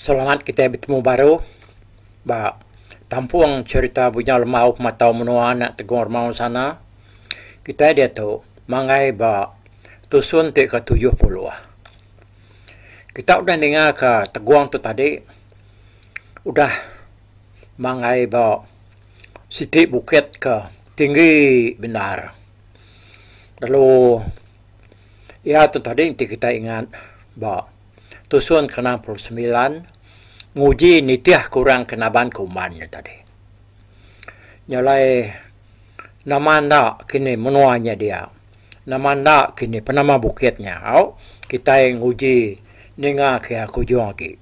Selamat kitai betemu baru ba tampung cherita Bunyau Lemau Pematau Menua anak Tegong Remaun Sana. Kitai diatu manggai ba tusun ti ke tujuh puluh. Kita udah ninga ka Tegong tu tadi udah manggai ba siti bukit ke tinggi bendar. Lalu iya tu tadi enti kitai ingat ba Tusun ke enam puluh semilan, nguji nitih ke orang ke naban ke uman nya tadi. Nya alai nama enda kini menua nya dia, nama enda kini penama bukit nya au kitai nguji ninga ke aku ujung agi.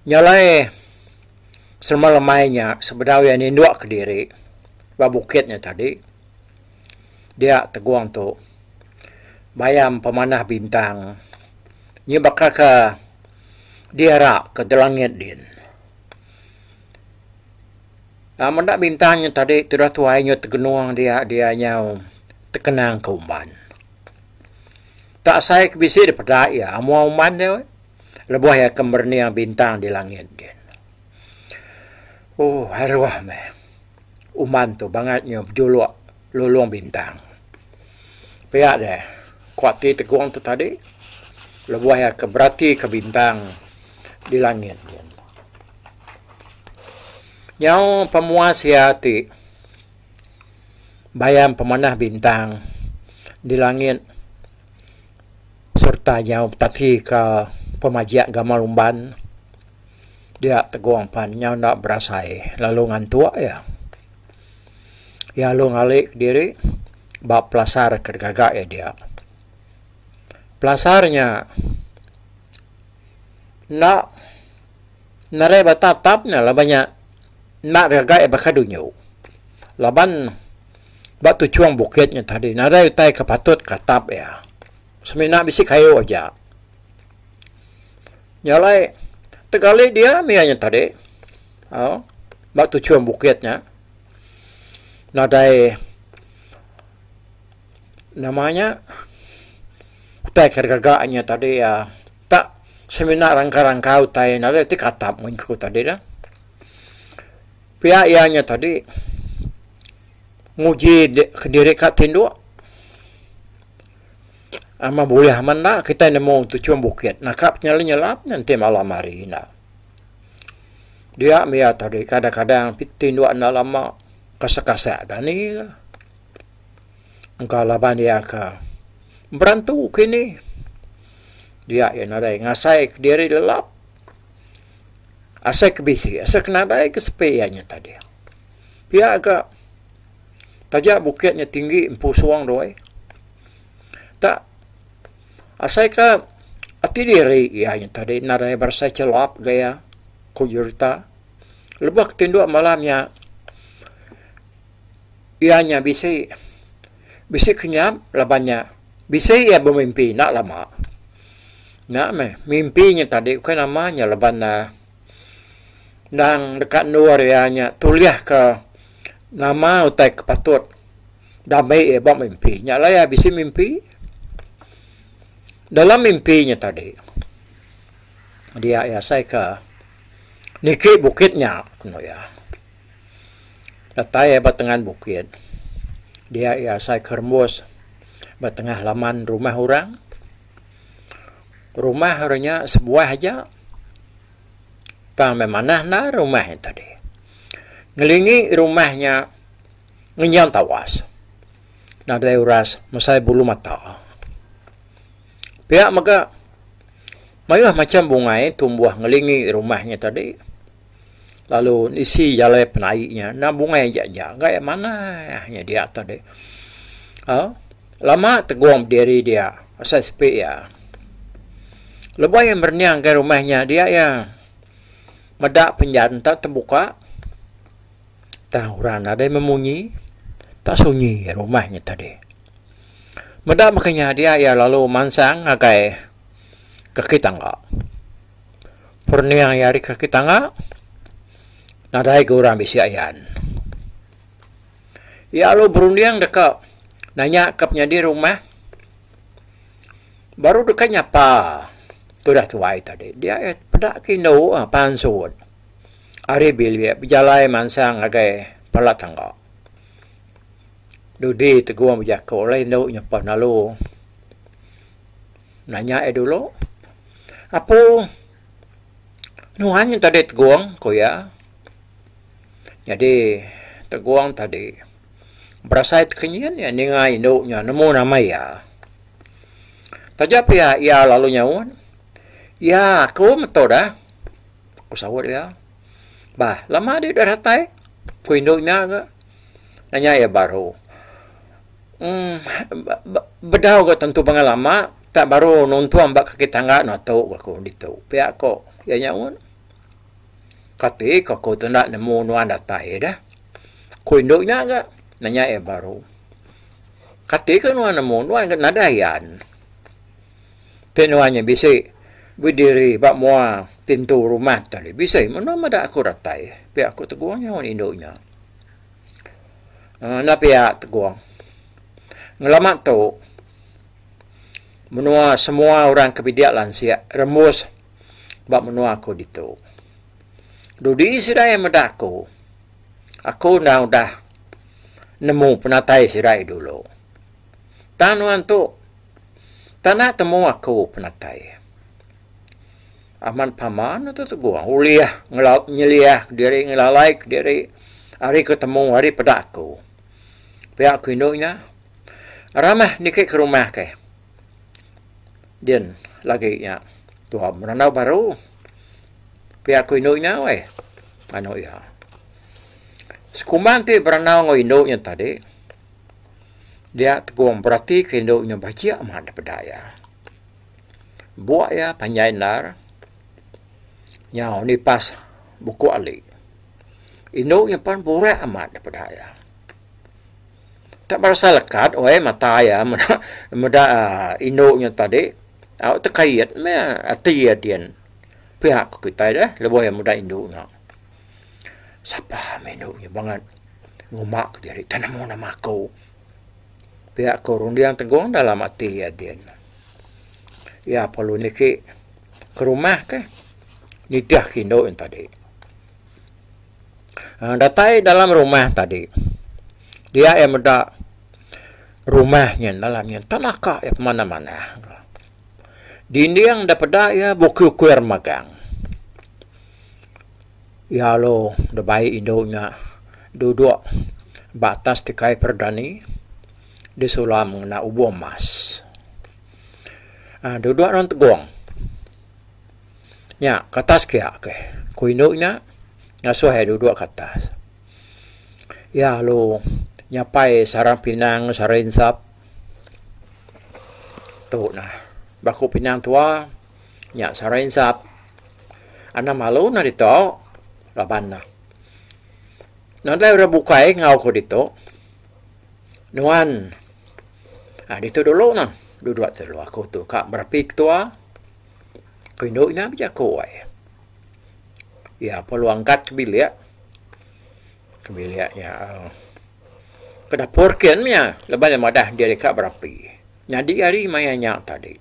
Nya alai selema lemai nya sebedau iya ninduk ke diri ba bukit nya tadi. Dia tegong tu. Bayam pemanah bintang. Nya baka ke diara ke di langit din. Aaa meda bintang nya tadi tudah tuai nya tegenung dia dia nyau tekenang ke uban. Tak asai ke bisi dep peda iya amu uban dia weh. Lebuh iya ke merening bintang di langit din. Ooh aduh meh. uman tu bangat nyau bejuluk lulung bintang. Pia deh ku ati tegong tu tadi lebuh iya ke beratika bintang di langit. Nyau pemuas iya ti bayam pemanah bintang di langit sereta nyau betatika pemajik gamal umban. Dia Tegong pan nyau enda berasai lalu ngantuk iya. Iya alu ngali kediri ba pelasar ke digaga iya dia. Pelasar nya enda nerei ba tatap nya laban nya enda digaga iya baka dunyu. Laban ba tuchung bukit nya tadi nadai utai ke patut ke atap iya. Semina bisi kayu aja. Nya alai tegali dia mih nya tadi. Ha. Ba tuchum bukit nya. Nadai nama nya utai ke gaga nya tadi ah tak semina rangka-rangka utai nadai ti katap mun ku tadi dah. Pia iya nya tadi nguji diri ka tinduk. Amat bulih amat enda kitai nemu tuchum bukit naka penyelai nyelap nya enti malam hari ina. Dia mih iya tadi kadang kadang piti enda enda lama kasek kasek dani ka. Engka laban iya ka berantu kini dia iya nadai ngasai kediri lelap asai ke bisi asai ke nadai ke sepi iya nya tadi. Pia ka. Taja bukit nya tinggi empu suang doi. Tak asai ka ati diri iya nya tadi enda daya berasai chelap ga iya ku Jurita. Lebuh ke tinduk malam nya iya nya bisi bisi kenyap laban nya bisi iya bemimpi enda lama. Nya meh mimpi nya tadi ukai nama nya laban ne. endang deka endur iya nya tulihka nama utai ke patut dami iya ba mimpi nya lah iya bisi mimpi dalam mimpi nya tadi dia iya asai ke niki bukit nya ku iya datai iya ba tengan bukit dia iya asai ke rembus ba tengah laman rumah orang. Rumah orang nya sebuah aja tang meh manah endar rumah nya tadi. Ngelingi rumah nya ngenyan tawas. Nadai uras mesai bulu mata. Pia mega mayuh macham bungai tumbuh ngelingi rumah nya tadi. lalu isi jalai penai nya enda bungai aja jagai manah nya dia tadi uh, lama tegung diri dia pasal sepi ya lebuh ia merenyang ke rumah nya dia ya meda penjan ta terbuka tang orang ada memunyi ta sunyi rumah nya tadi meda maka nya dia ya lalu mansang ngagai kaki tangga Perniang iya ari kaki tangga, nadai ga orang bisi ayan. Iya alu berunding deka nanya ka penyadi rumah baru deka nyapa tudah tuai tadi. Dia iya peda ke indu pansut ari bilik bejalai mansang ngagai pala tangga. Dudi tegong bejaku lalu indu nyapa lalu. Nanya iya dulu. Apo nuan tadi tegong? ku iya. Nyadi tegong tadi berasai tekenyin iya ninga indu nya nemu nama iya. Taja pia iya lalu nyaut, Ya, aku meto dah, ku saut iya. Bah, lama dih udah datai, ku indu nya ga nanya iya baru. Um, bedau ga tentu pangan lama, pia baru nuntung ba kaki tangga anu atu ga ku ditu. Pia ko iya nya un. Kati ko aku tu enda nemu nuan datai dah? Ku indu nya ga nanya iya baru. Kati ko nuan nemu, nuan ga nadai yan. Ti nuan nya bisi bediri ba mua pintu rumah tadi. Bisi menoa meda aku datai. Pia aku tegung nyawa indu nya. Enda pia tegung. Ngelama tu menoa semua orang ke bidik lansik rembus ba menoa aku ditu. Dudi sida iya meda aku. Aku enda udah nemu penatai sida iya dulu. Tang nuan tu tanda temu aku penatai. Aman pama nuan tu tegong ulih nyeliah diri ngelalai ke diri ari ke temu ari peda aku. Pia aku indu nya ramah niki ke rumah ke. Din lagi nya tuai berandau baru. Pia aku indu nya weh anu iya. Sekumbang ti berandau enggau indu nya tadi. Dia tegong beratika indu nya bajik amat da peda iya. Buk iya panjai endar nyau nipas buku ali. Indu nya pan burak amat da peda iya. Ka berasai lekat weh mata iya meda indu nya tadi. Au tekait meh ati iya din. Pia ku kitai deh lebuh iya meda indu nya. Sapa meh indu nya bangat nguma ke diri ke nemu nama aku. Pia ku runding tegong dalam ati iya din. Iya perlu niki ke rumah kah nitih ke indu nya tadi. Aaa datai dalam rumah tadi dia iya meda rumah nya dalam nya enta naka iya pemanah-manah. Dinding daripada iya bukir-ukir magang. Iya alu da bai indu nya duduk ba atas tikai perdani disulam ngena ubo emas. Aaa duduk nuan tegong. Nya ke atas kia ke ku indu nya ngasuh iya duduk ke atas. Iya alu nyapai sarang pinang sarang insap. Tu nah ba ku pinang tuwa Nya sarai ensap. Anang malu nang ditu raban ne. Nadai orang bukai enggau ku ditu. Nuan aaa ditu dulu nang duduk tu dulu aku tu ka berapi ke tua. Ku indu nya bejaku ai. Iya pun lalu angkat ke bilik, ke bilik nya aaa ke dapur kin maya laban iya madah diri ka berapi. Nyadi ari maya nya tadi.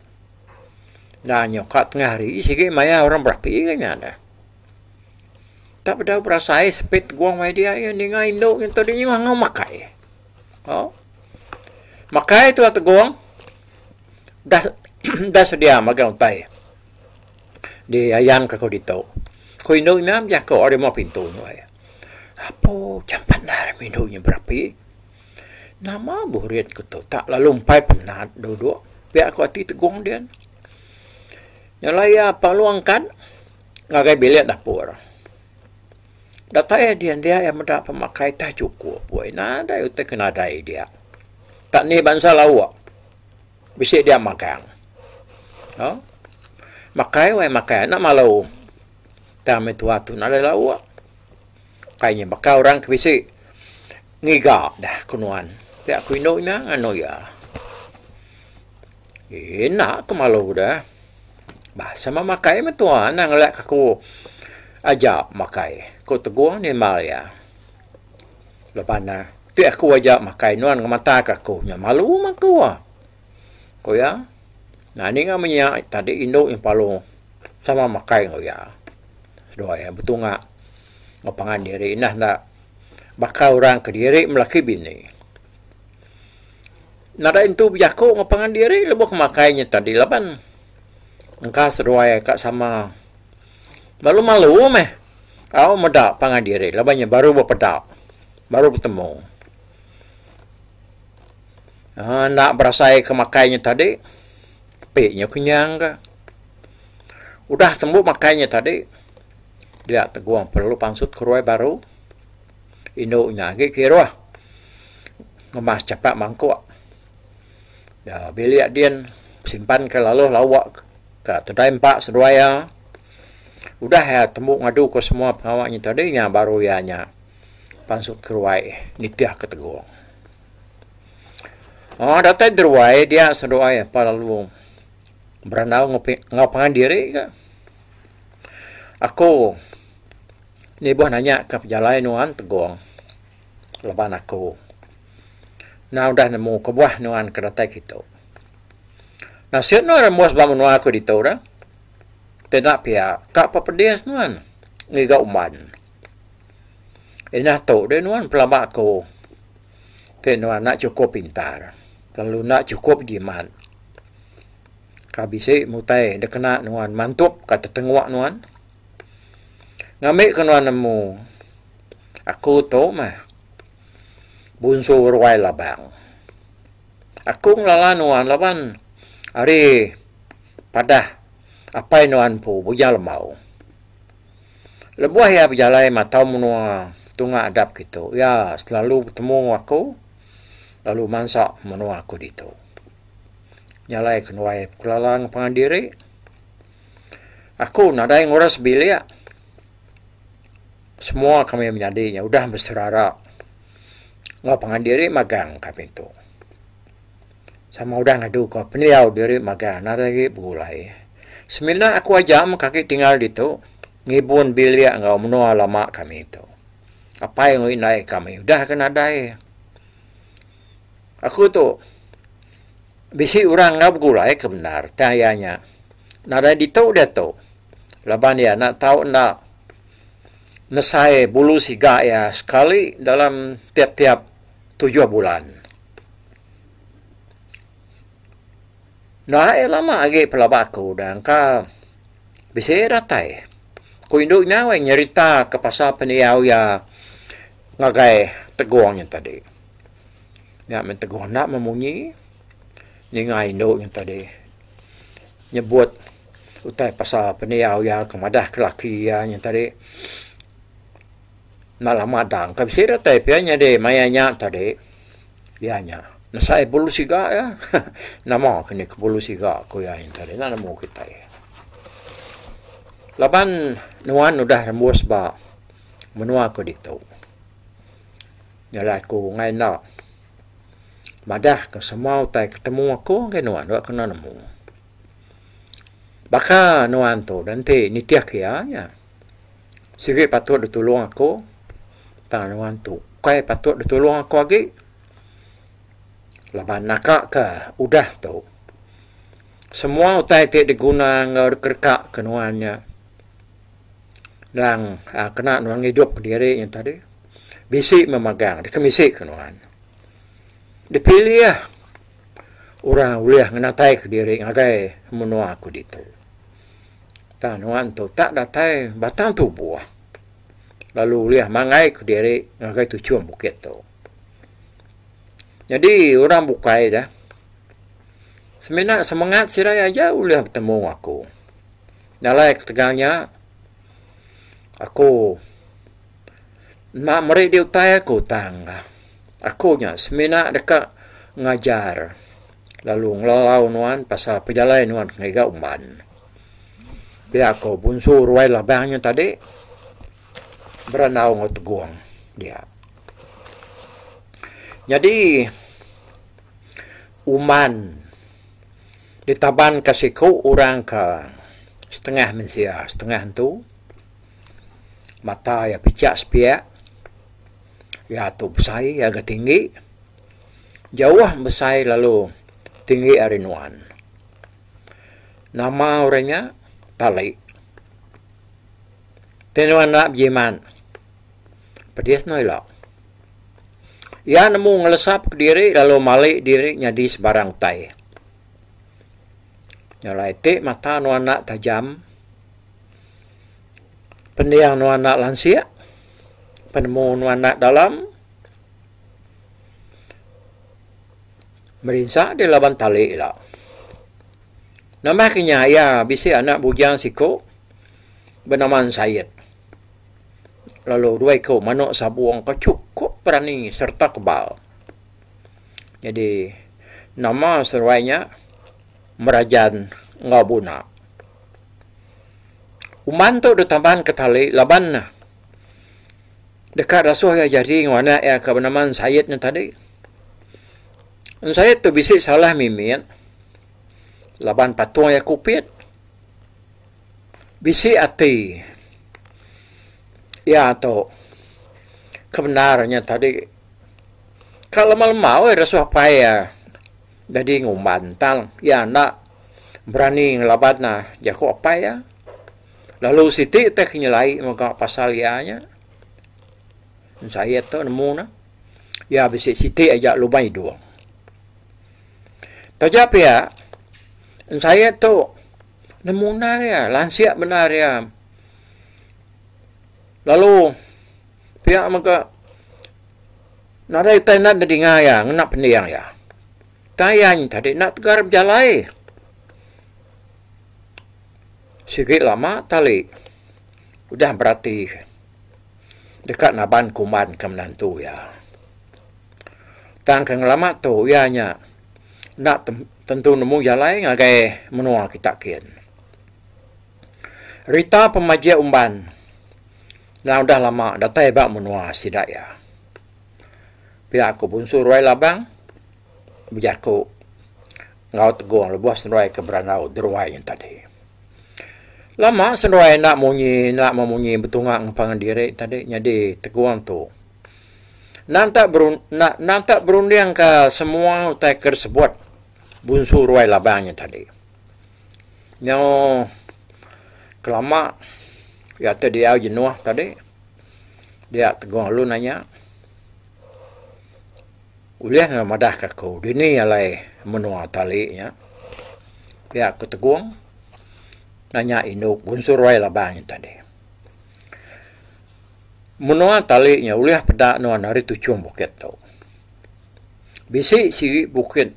Nah nyau ka tengah hari sigi maya orang berapi ke nya deh. Tak bedau berasai sepit tegong maya dia iya ninga indu nyen tu dinyi mangau makai. Au. Makai tu a tegong dah dah sedia magang utai di ayan ke kau ditu. Ku indu nya bejaku ari muah pintu nuai. Apo jampat nda rimeh indu nyen berapi. Nama burit ku tu tak lalu empai penat duduk pia ku ati tegong dian. Nyelai iya palong kan ngagai bilik dapur. Datai iya dian dia iya meda pemakai teh chukup woi nadai utai ke nadai dia. Tak ni bansa lauk bisi dia magang. Au makai woi makai enda malu. Tang ami tua tu nadai lauk. Pai nya baka orang ke bisi ngiga dah ku nuan. Pia aku indu nya nganu iya. Ina aku malu dah. Bah sama makai mentua nang ngelak aku aja makai ku Teguh nimbal iya. Leban ne, ti aku aja makai nuan ngemata ka aku nya malu mah aku. Ku iya, Nani ngau menya tadi indu iya palu sama makai enggau iya. Seduai iya betunga enggau pangan diri nah enda baka orang kediri melaki bini. Nadai nentu bejaku enggau pangan diri lebuh ke makai inya tadi laban engka seduai iya ka sama malu-malu meh au meda pangan diri laban iya baru bepeda, baru betemu. Haa enda berasai ke makai nya tadi tapi nya kenyang ga. Udah tembu makai nya tadi dia tegong perlu pansut ke ruai baru indu nya agi kiruh ngemas chapa mangkuk da bilik din simpan ke lalu lawa ka kedai empa seduai iya. Udah iya tembu ngadu ke semua pengawa nya tadi nya baru iya nya pansut ke ruai nitih ke tegong. Aaa datai deruai dia seduai apai lalu berandau enggau pe enggau pangan diri ke. Aku nibuh nanya ka pejalai nuan tegong laban aku enda udah nemu kebuah nuan ke datai ke tu. Nasit nuan rembus ba menua aku ditu dah. Peda pia ka pedis nuan ngiga umban. Inah tu deh nuan pelaba aku ti nuan enda chukup pintar lalu enda chukup jimat ka bisi mutai da kena nuan mantup ka tetengwa nuan ngambi ka nuan nemu aku tu mah bunsu ruai labang aku ngelala nuan laban ari padah apai nuan empu Bujang Lembau. Lebuh iya bejalai matau menua tunga adap kitu, iya selalu betemu enggau aku lalu mansa menua aku ditu. Jalai ke nuai Pekelalang pangan diri. Aku nadai ngurus bilik. Semua kami menyadi nya udah beserara enggau pangan diri magang kami tu. Sama udah ngadu ka pendiau diri magang nadai agi begulai. Semina aku aja mega agi tinggal ditu ngibun bilik enggau menua lama kami tu. Apai enggau indai kami udah agi nadai. Aku tu bisi orang enda begulai ke bendar tang iya nya nadai ditu diatu laban iya enda tau enda nesai bulu siga iya sekali dalam tiap-tiap tujuh bulan. Enda air lama agi pelaba aku udah engka bisi datai. Ku indu nya weh nyerita ke pasal pendiau iya ngagai tegong nya tadi. Nya men tegong enda meh munyi ninga indu nya tadi nyebut utai pasal pendiau iya ke madah ke laki iya nya tadi. Malam madang ka bisi datai pia nyadi maya nya tadi iya nya nesai bulu siga iya. Nama ke ni ke bulu siga ku iya nya tadi enda nemu kitai. Laban nuan udah rembus ba menua ku ditu nyadi aku angai enda madah ke semua utai ke temu aku ngagai nuan enda kena nemu. Baka nuan tu enti nitih iya nya. sigi patut ditulung aku tang nuan tu kai patut ditulung aku agi laban naka ka udah tu semua utai ti diguna enggau dikereka ke nuan nya tang kena nuan ngidup diri nya tadi bisi meh magang dikemisi ke nuan dipilih. orang ulih ngenataika diri ngagai menua aku ditu. Tang nuan tu tak datai batang tubuh lalu ulih manggaika diri ngagai tuchum bukit tu. Nyadi orang bukai dah semina semengat sidai aja ulih betemu enggau aku. Jalai ketegal nya aku enda meri dia utai aku tang. Aku nya semina deka ngajar lalu ngelalau nuan pasal pejalai nuan ngiga umban. Pia ko Bunsu Ruai Labang nya tadi berandau enggau Tegong dia. Nyadi umban ditabanka siku orang ka setengah mensia setengah entu mata iya pichak sepiak. Iya tu besai ngagai tinggi jauh besai lalu tinggi ari nuan. Nama orang nya tali. Ti nuan enda bejimat pedis enda ila. Iya nemu ngelesap diri lalu mali diri nyadi sebarang utai. Jalai ti mata nuan enda tajam. Pendiau nuan enda lansik, penemu nuan enda dalam. Merinsa deh laban tali ila. Nambah ke nya iya bisi anak bujang siku benama Said lalu dua iku manuk sabung ke chukup berani serta kebal. Nyadi nama seruai nya Merajan enggau Buna. Uman tu ditaban ke tali laban ne deka rasoh iya jadi enggau anak iya ke benama Ensayet nya tadi. Ensayet tu bisi salah mimit laban patung iya kupit. Bisi ati iya tu ke bendar nya tadi. Ka lema-lema weh rasoh apai iya. Nyadi ngumban tang iya enda berani ngelaban jaku apai iya. Lalu siti teh ke nyelai mega pasal iya nya. Ensa iya tu nemu ne. Iya bisi siti aja lumba idung. Taja pia ensa iya tu nemu undar iya, lansik bendar iya. Lalu pia mega. Nadai utai enda nedinga iya ngena pending iya. Utai iya nyin tadi enda tegar bejalai. Sigi lama tali udah berati deka naban kuman ke menantu iya. Tang ke ngelama tu iya nya enda tentu nemu jalai ngagai menua kita kin. Rita pemajik umban nya udah lama datai ba menua sida iya. Pia aku Bunsu Ruai Labang bejaku enggau Tegong lebuh seruai ke berandau Deruai nya tadi. Lama seruai enda munyi enda meh munyi betunga enggau pangan diri tadi nyadi Tegong tu nanta nanta berundingka semua utai ke disebut Bunsu Ruai Labang nya tadi. nyau kelama iya ti diau jenuh tadi dia Teguh lalu nanya ulih enggau madah ka aku dini alai menua tali nya pia ku Teguh nanya indu ku Unsur Wai Labang nya tadi menua tali nya ulih peda nuan ari tuchum bukit tu bisi sigi bukit.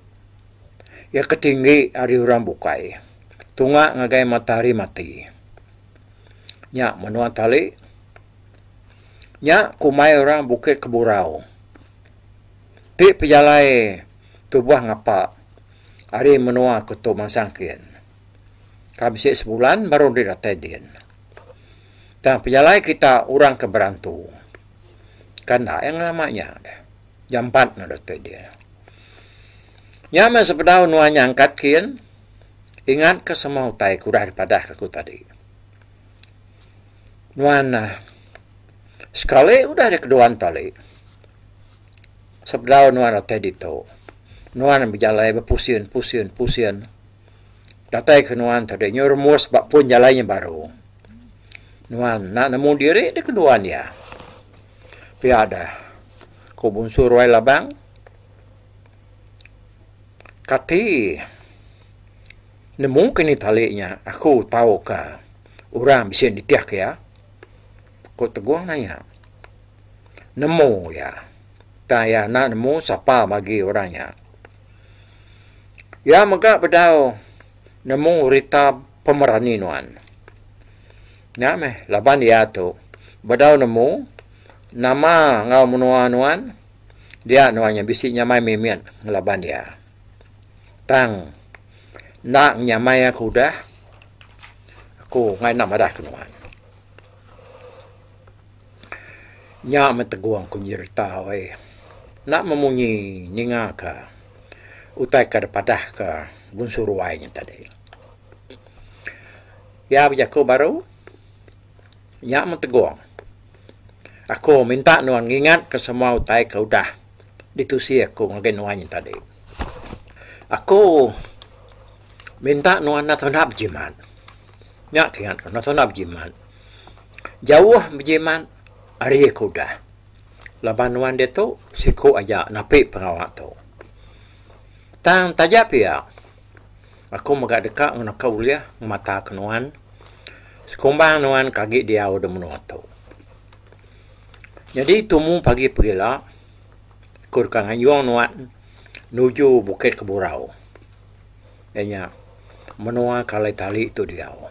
Iya ke tinggi ari orang bukai, tunga ngagai matahari mati. Nya menua tali. Nya ke umai orang Bukit Keburau. Ti pejalai tuboh ngapa ari menua ke tu mansang kin. Ka bisi sebulan baru deh datai din. Tang pejalai kita orang ke berantu. Ka enda iya ngelama nya deh. Jampat no dote dia. Nya meh sepedau nuan nya angkat kin, ingat ka semua utai ke udah dipadah ka ku tadi. Nuan ah sekali udah di kedua entali, sepedau nuan dote ditu, nuan bejalai bepusin pusin pusin, datai ke nuan tadi nyu rumus ba pun jalai nya baru. Nuan enda nemu diri di kedua dia. Pia dah Ku Bunsu Ruai Labang, Kati nemu ke ni tali nya aku tauka orang bisi nitih iya? Ku Teguh nanya, Nemu iya. Tang iya enda nemu sapa bagi orang nya. Iya mega bedau nemu rita pemerani nuan. Nya meh laban iya tu bedau nemu Nama enggau menua nuan? Dia nuan nya bisi nyamai mimit ngelaban dia. Tang enda nyamai aku udah, aku enggai enda madah ke nuan. Nya meh tegong ku nyereta ai. Enda meh munyi ninga ka utai ka dep padah ka bunsu ruai nya tadi. Iya bejaku baru. Nya meh tegong aku minta nuan ngingatka semua utai ke udah ditusi aku ngagai nuan nya tadi. Aku minta nuan enda tuna bejimat. Nya ke ingat ku enda tuna bejimat. Jauh bejimat ari ke udah. Laban nuan ditu siku aja napi pengawa tu. Tang taja pia Aku mega deka ngenaka ulih ngemataka nuan sekumbang nuan ke agi diau da menua tu. Nyadi tumu pagi pegila, aku deka ngayung nuan nuju Bukit Keburau, iya nya menua ke alai tali tu diau.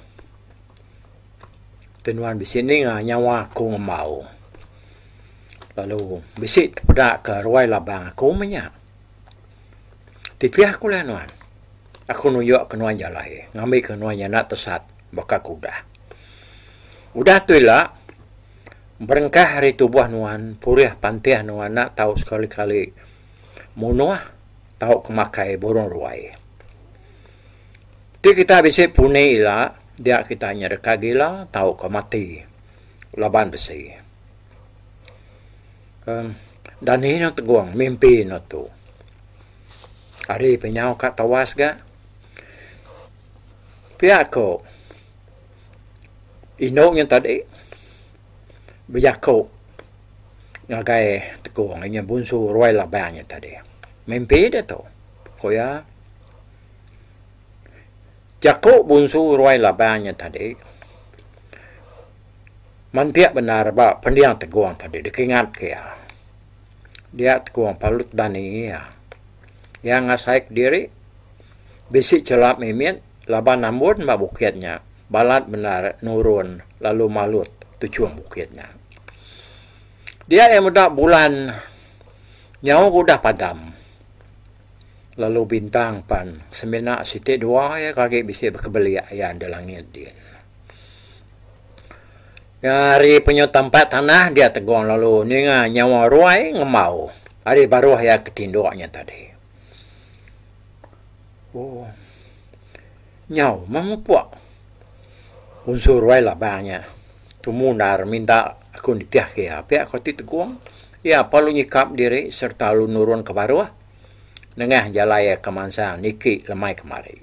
Ti nuan bisi ninga nyawa aku ngembau lalu bisi tepeda ke ruai labang aku mah nya. Titih aku layan nuan. Aku nuyukka nuan jalai ngambika nuan nyana tesat baka ke udah. Udah tu ila berengkah ari tubuh nuan purih pantih nuan enda tau sekali-kali munuh tauka makai burung ruai. Ti kita bisi puni ila dia kita nyereka gila tauka mati laban besi. uhh dani nya tegong mimpi ne tu hari pe nyau ka tewas ga pia ko indu nya tadi bejaku ngagai tekong inya bunsu ruai laban nya tadi mimpi ne tu ko iya jaku bunsu ruai laban nya tadi. Mantik bendar ba pendiang tegong tadi dikingat ke iya. Dia tegong palut bani iya. Iya ngasai kediri bisi chelap mimit laban ambun ba bukit nya balat bendar nurun lalu malut tuchum bukit nya. Dia iya meda bulan nyau ke udah padam lalu bintang pan semina siti dua iya ke agi bisi bekebelik iya di langit din. Ari penyu tempat tanah dia tegung lalu ninga nyawa ruai ngembau ari baruh iya ke tinduk nya tadi. Oh. Nyau meh mupuk. Unsu ruai labang nya. Tumu endar minta aku nitihka iya pia ko ti tegung. Iya pa lalu nyikap diri sereta lalu nurun ke baruh nengah jalai iya ke mansang niki lemai kemari.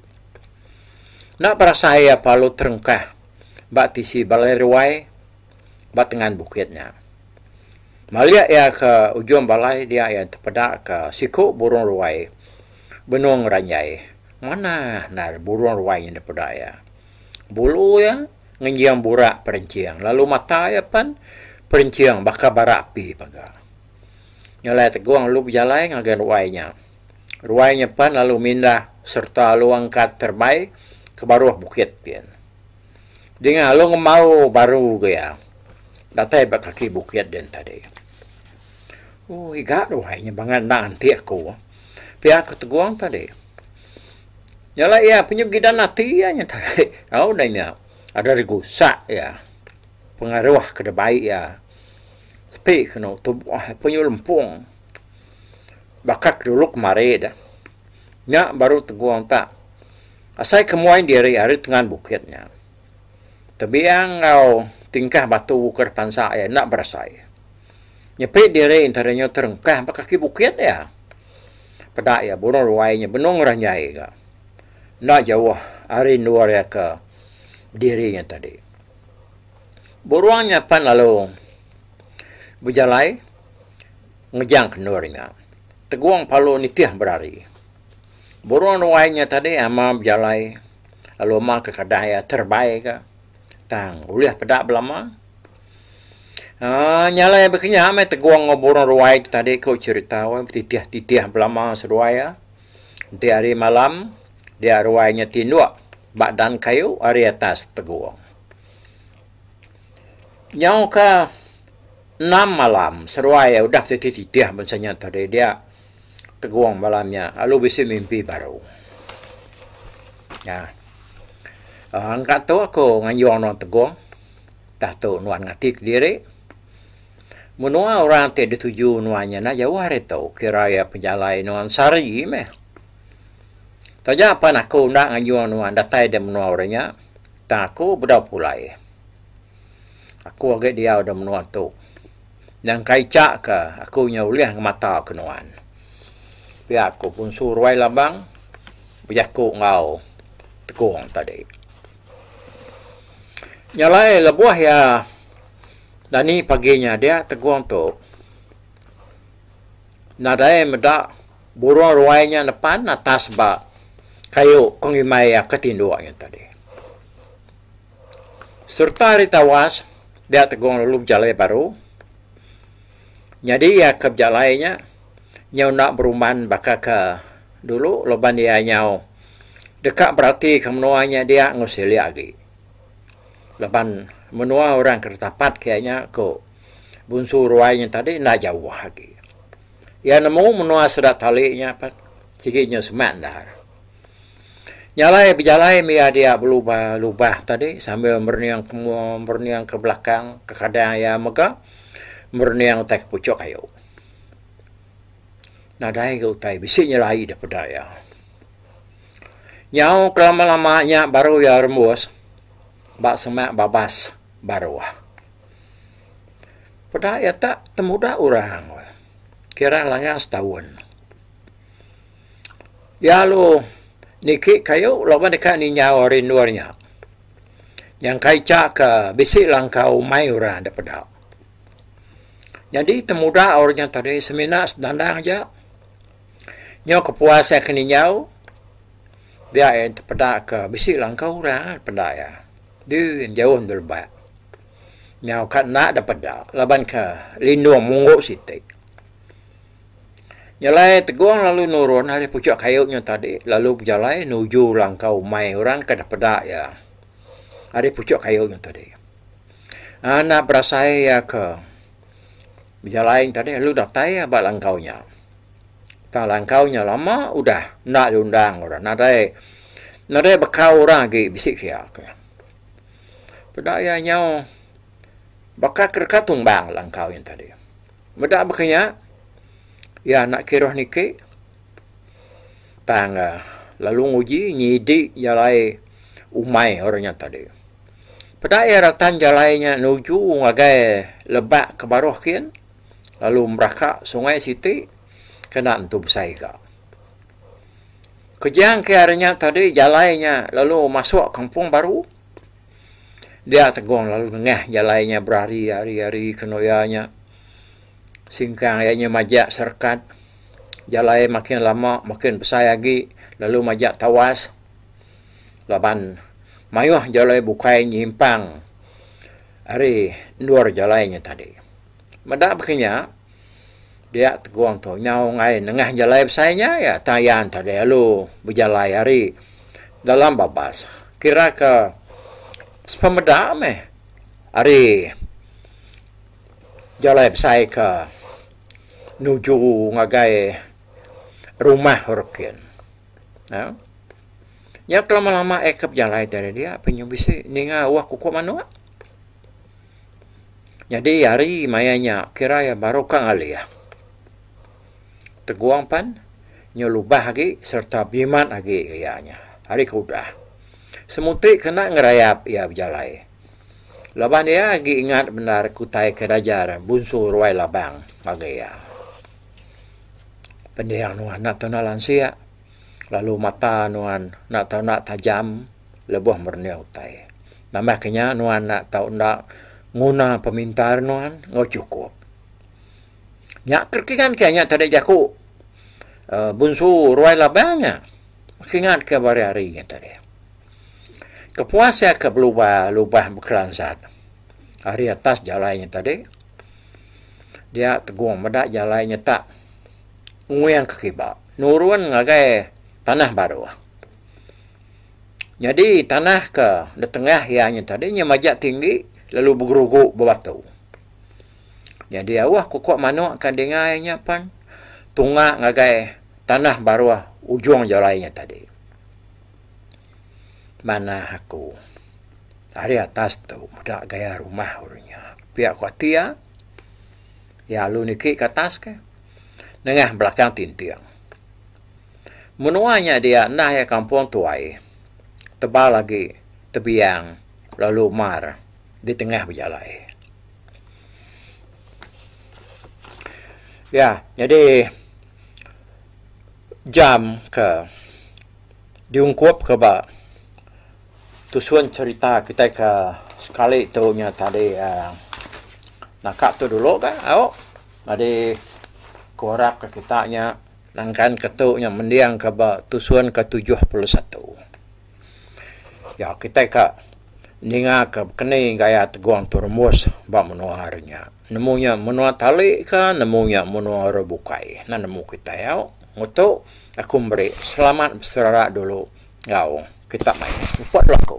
Enda berasai iya pelalu terengkah ba tisi balai ruai ba tengan bukit nya. Malik iya ke ujung balai dia iya tepeda ke siku burung ruai benung ranjai. Manah endar burung ruai nya dipeda iya. Bulu iya ngenjing burak perenching lalu mata iya pen perenching baka bara api mega. Nya alai tegong lalu bejalai ngagai ruai nya. Ruai nya pan lalu mindah sereta alu angkat terebai ke baruh bukit gin. Dinga alu ngembau baru ke iya datai ba kaki bukit din tadi. Oh iga ruai nya bangat enda nganti aku. Pia aku tegong tadi. Nya alai iya punya gidan ati iya nya tadi. Au udah nya ada digusak iya. Pengaruh ke da bai iya sepi kenu tubuh iya punya lempung. Baka ke dulu kemari da. Nya baru tegong ta. Asai ke muai diri ari tengan bukit nya. Tebiang enggau tingkah batu ke depansa iya enda berasai. Nyepi diri enti hari nya terengkah ba kaki bukit iya. Peda iya burung ruai nya benung ranjai ga. Enda jauh ari endur iya ke diri nya tadi. Burung nya pan lalu bejalai. Ngejang kendur nya, Tegong Palu nitih berari. Burung ruai nya tadi ama bejalai lalu ama ke kedai iya terbai ga. Tang ulih peda belama. Aa nyalai baka nya meh Tegong enggau burung ruai tu tadi ku cherita weh betitih-titih belama seduai iya. Enti hari malam, dia ruai nya tinduk ba dan kayu ari atas Tegong. Nyauka. Enam malam seruai iya udah siti titih bansa nya tadi dia tegung malam nya lalu bisi mimpi baru. Nya. Engka tu aku nganjung nuan tegung tah tu nuan ngati kediri. Menua orang ti dituju nuan nya enda jauh ari tu kira iya pejalai nuan sehari meh. Taja pan aku enda nganjung nuan datai di menua orang nya tang aku bedau pulai. Aku agi diau da menua tu. Nyangkaica ka aku nyau ulih ngemata ke nuan. Pia ku Punsu Ruai Labang bejaku enggau Tekong tadi. Nya alai lebuh iya dani pagi nya dia Tekong tu nadai meda burung ruai nya nepan atas ba kayu pengimai iya ke tinduk nya tadi. Sereta ari tawas dia tegong lalu bejalai baru nyadi iya ke bejalai nya nyau enda berumban baka ke dulu laban iya nyau deka beratika menua nya dia enggau silik agi laban menua orang ke ditapat ke iya nya ku Bunsu Ruai nya tadi enda jauh agi. Iya nemu menua sida tali nya apat sigi nyau semak endar. Jalai bejalai mih iya dia belubah lubah tadi sambil merening ke mua merening ke belakang kekadang iya mega merening utai ke puchok ayu. Nadai ga utai bisi nyelai deh peda iya. Nyau ke lama lama nya baru iya rembus ba semak babas baruh. Peda iya tak temuda orang kira langgang setahun. Iya lu niki kayu laban deka ninyau ari endur nya. Nyangkai cha ka bisi langkau umai orang da peda. Nyadi temuda orang nya tadi semina senandang aja nyau kepuas iya ke ninyau dia iya tepeda ka bisi langkau orang da peda iya. Deh jauh endur leba. Nyau ka enda da peda laban ka lindung munggu siti. Nyelai Tegong lalu nurun ari puchuk kayu nya tadi lalu bejalai nuju langkau umai orang ke dapeda iya ari puchuk kayu nya tadi. Anak berasai iya ke bejalai nya tadi lalu datai iya ba langkau nya. Tang langkau nya lama udah enda diundang orang nadai nadai baka orang agi bisi ke iya. Peda iya nyau baka ke deka tumbang langkau nya tadi. Meda baka nya, iya enda kiruh niki tang lalu nguji nyidi jalai umai orang nya tadi. Peda iya ratan jalai nya nuju ngagai lebak ke baruh kin lalu meraka sungai siti kena entu besai ga. Kejang ke ari nya tadi jalai nya lalu masuk kampung baru. Dia Tegong lalu nengah jalai nya berari ari-ari kenoya nya. Singkang iya nya majak serekat. Jalai makin lama makin besai agi lalu majak tawas laban mayuh jalai bukai nyimpang ari endur jalai nya tadi. Meda baka nya. Dia tegong tu nyau ngai nengah jalai besai nya iya Tayan tadi lalu bejalai ari dalam babas kira ke sepemeda meh ari jalai besai ke nuju ngagai rumah Orokin. Nah, nya ke lama-lama iya ke bejalai tadi dia pe nya bisi ninga uwak uko manok. Nyadi hari maya nya kira iya baru ka ngalih. Tegong pan nyau lubah agi sereta bimat agi ke iya nya ari ke udah. Semuti kena ngerayap iya bejalai. Laban iya agi ingat bendar ke utai ke diajar Bunsu Ruai Labang ngagai iya. Pendiau nuan enda tau enda lansik lalu mata nuan enda tau enda tajam lebuh merenih utai. Nambah ke nya, nuan enda tau enda nguna pemintar nuan enggau chukup. Nya ke kingat ke nya tadi jaku Uh, Bunsu Ruai Labang nya. Kingat ke hari-hari nya tadi. Kepuas iya ke belubah lubah bekelansat ari atas jalai nya tadi. Dia tegong meda jalai nya tak nguing ke kiba nurun ngagai tanah baruh. Nyadi tanah ke ditengah iya nya tadi nya majak tinggi lalu begerugu bebatu. Nyadi auh aku ku manuk ka dingai nya pen tunga ngagai tanah baruh ujung jalai nya tadi. Manah aku ari atas tu meda gaya rumah ulu nya. Pia ku ati iya, iya alu niki ka atas ke nengah belakang tinting. Menua nya dia enda iya kampung tuai, tebal agi tebiang lalu mar di tengah bejalai. Ya, nyadi jam ke diungkupka ba tusun cherita kitai ke sekali tu nya tadi uhh naka tu dulu ka au nyadi ku harapka kita nya. Nangkan ke tu nya mending ke ba tusun ke tujuh puluh satu. Nya kitai ka ninga ke keni gaya tegong tu rumus ba menua hari nya. Nemu nya menua tali ka nemu nya menua orang bukai enda nemu kitai au. Ngutu aku meri selamat beserara dulu enggau kita mai muput laku.